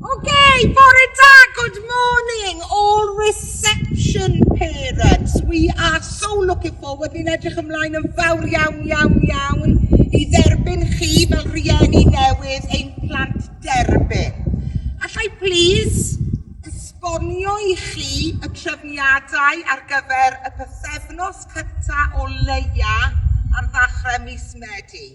Okay, bore da, good morning, all reception parents. We are so looking forward, ni'n edrych ymlaen yn fawr iawn, iawn, iawn i dderbyn chi fel rhieni newydd ein plant derbyn. Allai please esbonio i chi y trefniadau ar gyfer y pythefnos cyntaf o leia ar ddechrau mis Medi.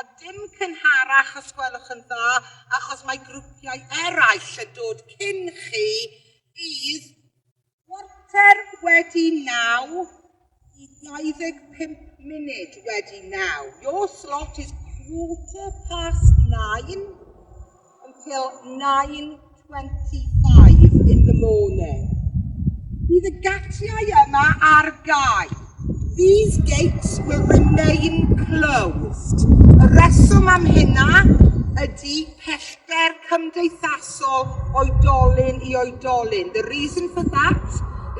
A dim cynharach os gwelwch yn dda, achos mae grwpiau eraill yn dod cyn chi, bydd chwarter wedi naw i 25 munud wedi naw. Your slot is quarter past nine. until 9.25 in the morning. Bydd y gatiau yma ar gael. These gates will remain closed. Y reswm am hynna ydy pellter cymdeithasol oedolyn i oedolyn. The reason for that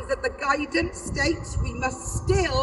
is that the guidance states we must still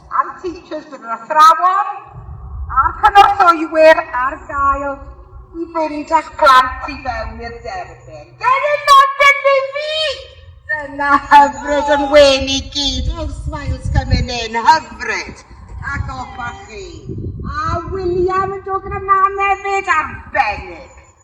a'r Teachers bydd yr athrawon a'r cynorthwywyr ar gael i fynd â'ch plant i fewn i'r derfyn. Gennym mam Benefig! Dyna hyfryd yn wen i gyd. Oh, smiles coming in. Hyfryd. A goffa chi. A William yn dod gyda mam hefyd. Arbennig.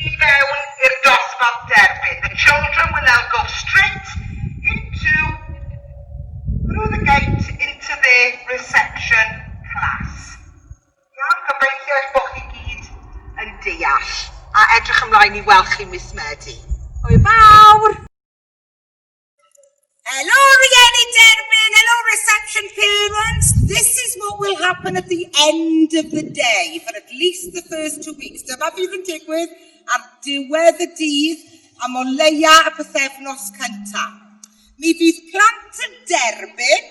i fewn i'r dosbarth derbyn, the children will now go straight into, through the gate into their reception class. Iawn, gobeithio eich bod chi gyd yn deall a edrych ymlaen i weld chi mis Medi. Hwyl fawr! Hello, Rieni Derbyn. Hello, reception parents. This is what will happen at the end of the day for at least the first two weeks. Dyma fydd yn digwydd ar diwedd y dydd am o leia y pethefnos cyntaf. Mi fydd plant yn derbyn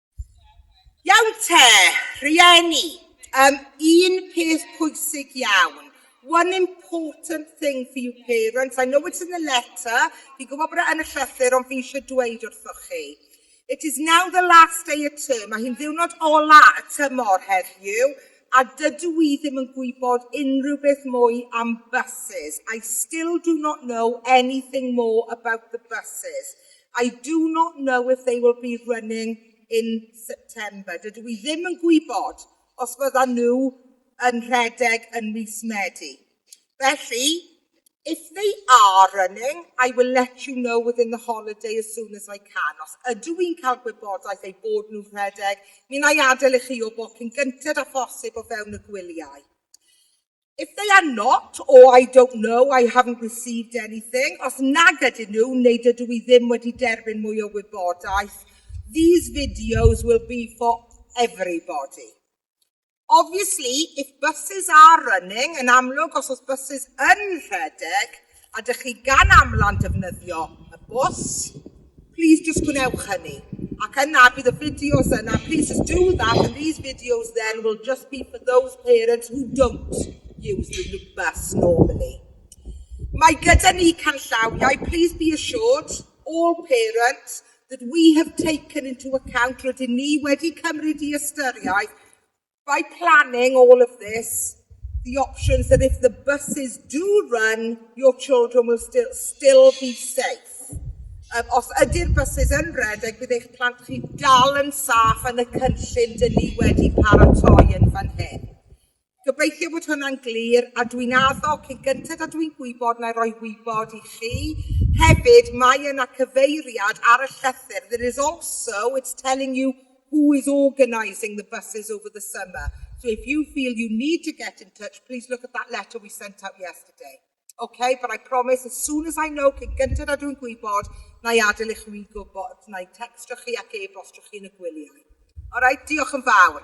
Iawn te, rhieni. Um, un peth pwysig iawn. One important thing for you parents. I know it's in the letter. Fi'n gwybod bod e yn y llythyr, ond fi eisiau dweud wrthoch chi. It is now the last day of term. Mae hi'n ddiwrnod ola y tymor heddiw, a dydw i ddim yn gwybod unrhyw beth mwy am buses. I still do not know anything more about the buses. I do not know if they will be running in September. Dydw i ddim yn gwybod os fyddan nhw yn rhedeg yn mis Medi. Felly, if they are running, I will let you know within the holiday as soon as I can. Os ydw i'n cael gwybodaeth eu bod nhw'n rhedeg, mi wna i adael i chi wybod cyn gynted â phosib o fewn y gwyliau. If they are not, or I don't know, I haven't received anything, os nag ydyn nhw neu dydw i ddim wedi derbyn mwy o wybodaeth, these videos will be for everybody. Obviously, if buses are running, yn amlwg os oes buses yn rhedeg, Ydych chi gan amlau'n defnyddio y bws? Plîs jyst gwnewch hynny. Ac yna bydd y fideos yna, plîs jyst do that and these videos then will just be for those parents who don't use the loop bus normally. Mae gyda ni canllawiau, plîs be assured, all parents, that we have taken into account, rydyn ni wedi cymryd i ystyriaeth by planning all of this, the options that if the buses do run, your children will still, still be safe. Um, os ydy'r buses yn redeg, bydd eich plant chi dal yn saff yn y cynllun dyn ni wedi paratoi yn fan hyn. Gobeithio bod hwnna'n glir a dwi'n addo cyn gyntaf a dwi'n gwybod na i roi wybod i chi. Hefyd, mae yna cyfeiriad ar y llythyr. There is also, it's telling you Who is organising the buses over the summer? So if you feel you need to get in touch, please look at that letter we sent out yesterday. OK, but I promise as soon as I know, cyn gyntaf na dwi'n gwybod, na i adael i chwi gwybod, na i textio chi ac e-bostio chi yn y gwyliau. Alright, diolch yn fawr.